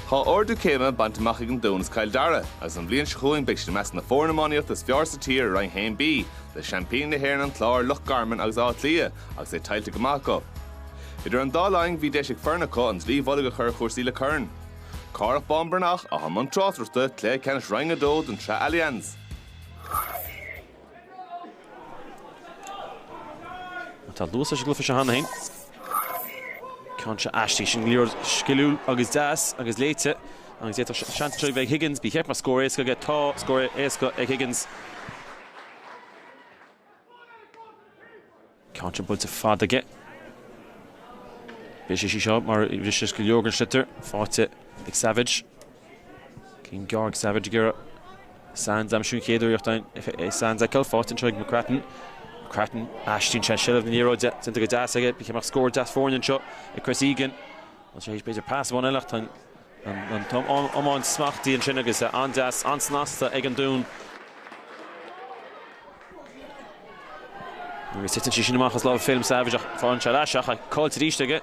Tá ardú céime bainte amach ag an Dún is Cill Dara agus an bhliain seo chugainn beidh siad i measc na foirne iománaíochta is fearr sa tír i Roinn 1B, le seaimpíní na hÉireann, An Clár, Loch Garman agus Áth Cliath, agus é tuillte go maith acu. Idir an dá linn bhí deis ag foireann acu an dlaoi mhullaigh a chur ar chúrsaí le corn. Cárthach Bán Breathnach, atá i mbun tráchtaireachta, cluiche ceannais Roinn 2 den tsraith Allianz. Tá luas leis an gcluiche seo cheana féin. Ceann seo aisti sin go leor sciliúil agus deas agus léite agus é seans trí bheith Higgins bí cheap mar scór éasca go tá scór éasca ag Higgins. Ceann buailte ar fad aige. B'é sé sí seo mar a rith sé go leor den sliotar faighte ag Savage. Ceann gearr ag Savage ag iarraidh Sands a aimsiú an chéad uair iachtáin ag Sands fheiceáil? Faighte anseo ag McGrattan. McGrattan, aistríonn sé an seilbh na liathróide, déanta go deas aige. Bíodh sé amach scór deas foirne anseo ag Chris Egan. Bhfuil sé tar éis b'fhéidir pas amháin eile ach tá an Tá an iomáint smachtaithe ansin agus é an-deas, an-snasta ag an Dún. Agus titeann sí sin amach as lámh Phelim Savage ach faigheann sé ar ais ach caillte arís aige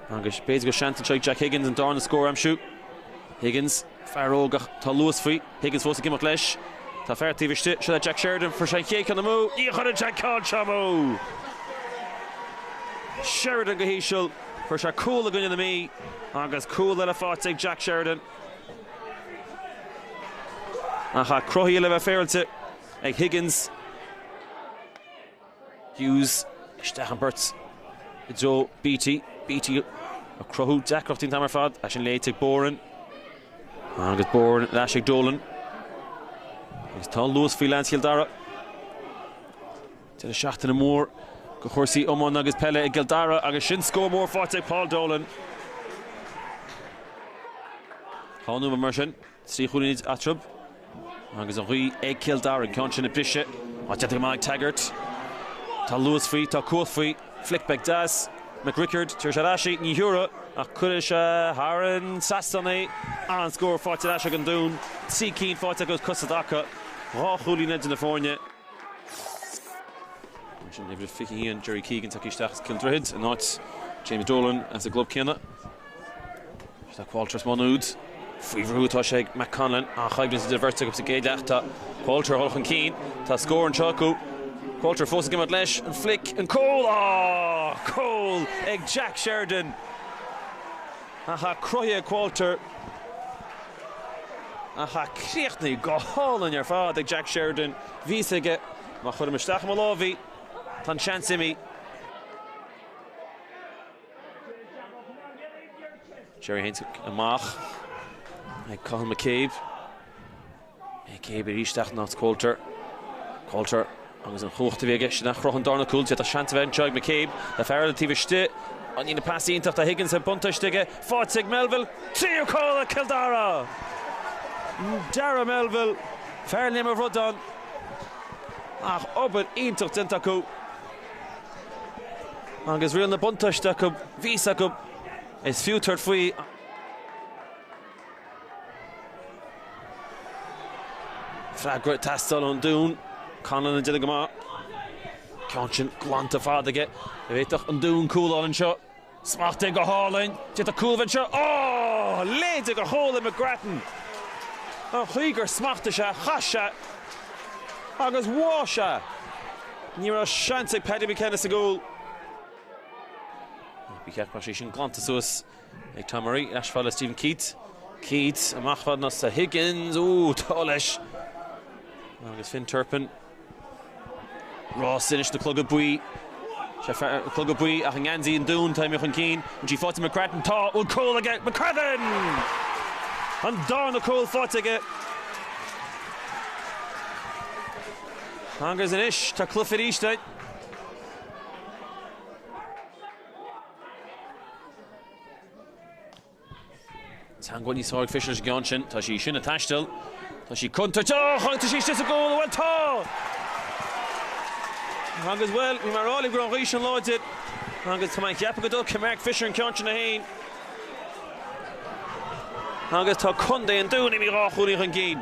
agus b'fhéidir gur seans anseo ag Jack Higgins an darna scór a aimsiú. Higgins, fear óg ach tá luas faoi. Higgins fós ag imeacht leis. Tá fear taobh istigh. Seo le Jack Sheridan. Chuir sé an chéad cheann amú. Ní chuireann sé ceann seo amú! Sheridan go híseal. Fuair sé cúl i gcoinne na Mí agus cúl eile faighte ag Jack Sheridan. Ach é cruthaithe le bheith féaráilte ag Higgins. Hughes isteach an pháirc i dtreo Beatty. Beatty ag cruthú deacrachtaí an t-am ar fad. É sin léite ag Boran agus Boran leis ag Dolan. Is tá luas faoi, lean Cill Dara Deireadh seachtaine mór do chúrsaí iomána agus peile i gCill Dara agus sin scór mór faighte ag Paul Dolan. Tá Nua mar sin trí chúilín eatarthu agus an ghaoth ag Cill Dara. An ceann sin ag briseadh ach déanta go maith ag Taggart. Tá luas faoi, tá cumhacht faoi. Flick beag deas. McCrickard, tabharfaidh sé ar ais í, ní thabharfaidh ach cuirfidh sé thar an trasnán é. An-scór faighte ar ais ag an Dún, trí cinn faighte acu is cosúil acu, dhá chúilín idir na foirne. Ansin uimhir a 21 Gerry Keegan tagtha isteach as Cill Droichid in áit James Dolan as an gclub céanna. Tá Qualter as Maigh Nuad faoi bhrú atá sé ag Matt Conlon an-choimhlint idir an bheirt acu sa gcéad leath tá Qualter ag dul chun cinn tá scór anseo acu Qualter fós ag imeacht leis an flick an cúl tá cúl ag Jack Sheridan ach é cruthaithe ag Qualter Ach a chríochnaigh go hálainn ar fad ag Jack Sheridan. Bhí 'fhios aige má chuirim isteach i mo lámh í, tá an seans imithe. Gerry Haynes amach ag Cathal McCabe. McCabe ar ais isteach ag Coulter. Coulter Agus an chumhacht a bhí aige sin a chruthaigh an darna cúl, d'fhéadfadh seans a bheith anseo ag McCabe le fear eile taobh istigh. Ní an pas iontach do Higgins agus buntáiste aige. Faighte ag Melville. Tríú cúl ag Cill Dara! Dara Melville, fear Léim an Bhradáin ann ach obair iontach déanta acu. Agus riail an bhuntáiste acu, bhí 'fhios acu. Is fiú tabhairt faoi. Freagra ag teastáil ón Dún. Connellan ag déanamh go maith. Ceann sin glanta fada aige. An bhféadfadh an Dún cúl a fháil anseo? Smacht aige go hálainn. D'fhéadfadh cúl a bheith anseo. Ááá! Leigthe go hálainn McGrattan. An chaoi gur smachtaigh sé, chas sé agus bháigh sé. Ní raibh seans ag Paddy McKenna sa gcúl. Ba cheart go mbeadh sí sin glanta suas. ag Tom Murray, ina sheasamh le Stephen Keats. Keats, amach fad le Higgins, ó, togha leis! Agus Finn Turpin, Ross Innis na Cloga Buí, sé fear na Cloga Buí ach i ngeansaí an Dúin, tá imithe chun cinn, tá sí faighte ag McCracken, tá, bhfuil cúl aige, McCracken! An darna cúl faighte aige! Agus anois tá cluiche arís uaidh. Teangmháil níos fearr ag Fisher leis an gceann sin. Tá sí sin ag taisteal. Tá sí contúirteach agus tá sí istigh sa gcúl. Bhuel, tá! Agus, bhuel, bhí mé a rá libh go raibh an ghaoth sin láidir. Agus tá mé ag ceapadh go dtógfaidh Mark Fisher an ceann sin é féin. Agus tá Contae an Dúin imithe dhá chúilín chun cinn.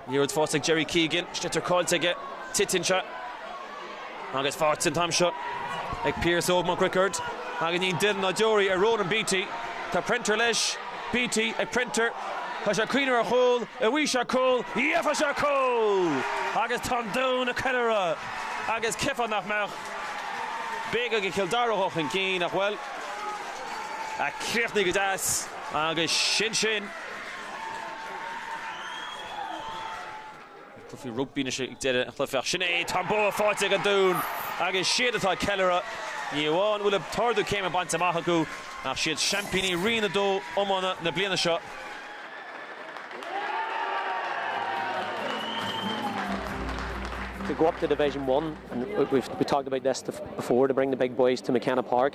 Ní raibh fós ag Gerry Keegan, sliotar caillte aige, titeann sé agus faighte an t-am seo ag Pearse Óg Mac Riocard agus níl aon duine ná deoraí ar Ronan Beatty, tá Prenter leis, Beatty ag Prenter, tá sé ag cuimhneamh ar chúl, an bhfaighidh sé cúl, gheobhaidh sé cúl! agus tá an Dún ag ceiliúradh agus cheapfá nach mbeadh b'éidir go Cill Dara ag dul chun cinn ach bhuel, a chríochnaigh go deas agus sin sin. An cluichí rugbaí anois ag deireadh an chluiche. Sin é tá an bua faighte ag an Dún agus siad atá ag ceiliúradh. Ní amháin go bhfuil an t-ardú céime bainte amach acu ach siad seaimpíní Roinn a dó iomána na bliana seo. To go up to Division One and we've we talked about this before to bring the big boys to McKenna Park.